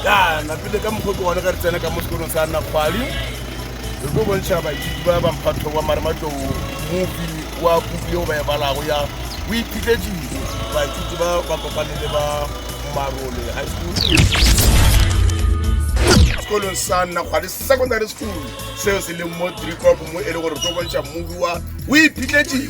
ya napile ka mokgwa ke one ka re tsena ka mo sekolong sa nna kgwali re tlo bontšha baithuti ba bamphatho wa marematlou mopi wa puku yeo ba e balago ya o iphitletsile baithuti ba ba kopane le ba marole high school sekolong sa nna kgwali secondary school seo se leng mo drikop mo e le gore re tlo bontšha mobi wa o iphitletsile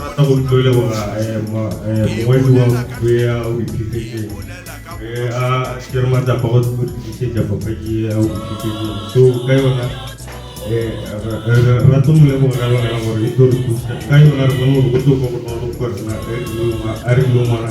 rata go tlo leboga mongwadi wa bea o diphefetseng a kere matsapa go tlisetsa papadi ya o diphefetseng so ka yona rata mo leboga ka lebaka la gore e tlo re thusa ka yona re bone gore go tlo kwa bonolo gore a re yo ngwana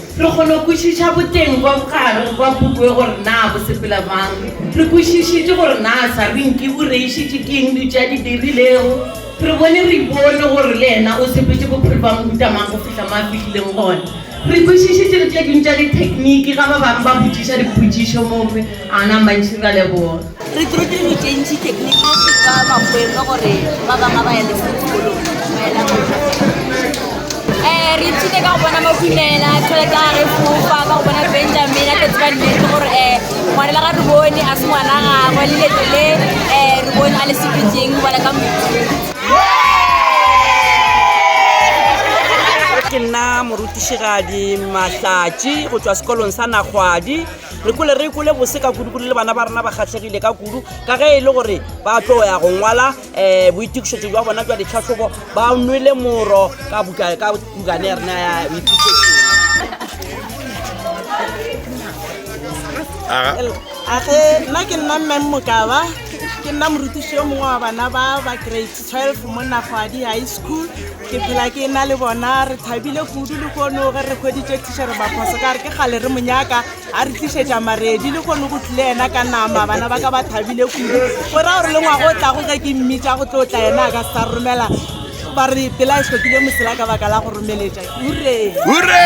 Re kgono kwešiša boteng bwa bogare bwa puku e gore na bo sepela bjang. Re kwešišitše gore na Sarinki o reišitše ke eng dutše a di dirilego. Re bone re ipone gore le yena o sepetše bophelo bja mohuta mang go fihla mo a fihlileng gona. Re kwešišitše le tše ding tša dithekniki ga ba bangwe ba botšiša dipotšišo. Mongwe. A na mantši ra leboga. Re tlo dira ditšentši teknikisi tsa makwelo gore ba bangwe ba ya lefo dikolong maela re ithute ka go bona makumela tšhelete a re fofa ka go bona benjamin a tletse ba nnete gore um ngwanela ga re bone a se ngwana gagwe le leto le um re bone a le sepetseng bona ka ke nna morutišigadi mahlatši go tswa sekolong sa nagwadi Re kwele re kwele bose ka kudu kudu le bana ba rena ba kgahlegile ka kudu ka ge e le gore ba tlo ya go ngwala um boitokišetšo jwa bona jwa ditlhahlobo ba nwele moro ka buka ka bukane ya rena ya boitokišetšo a ge nna ke nna mmeng mokaba ke nna morutiši yo mongwe wa bana ba ba grade 12 mo nagwadi high school ke phela ke na le bona re thabile kudu le kgono ge re kgweditše tišere baphoso ka re ke gale re monyaka a re tlišetša maredi le kgono go tlile yena ka nama bana ba ka ba thabile kudu go ra gore le ngwago o tlago ge ke mmitša go tlo tla yena a ka sa romela ba re pela e tlhokile mosela ka baka la go romeletša ure ure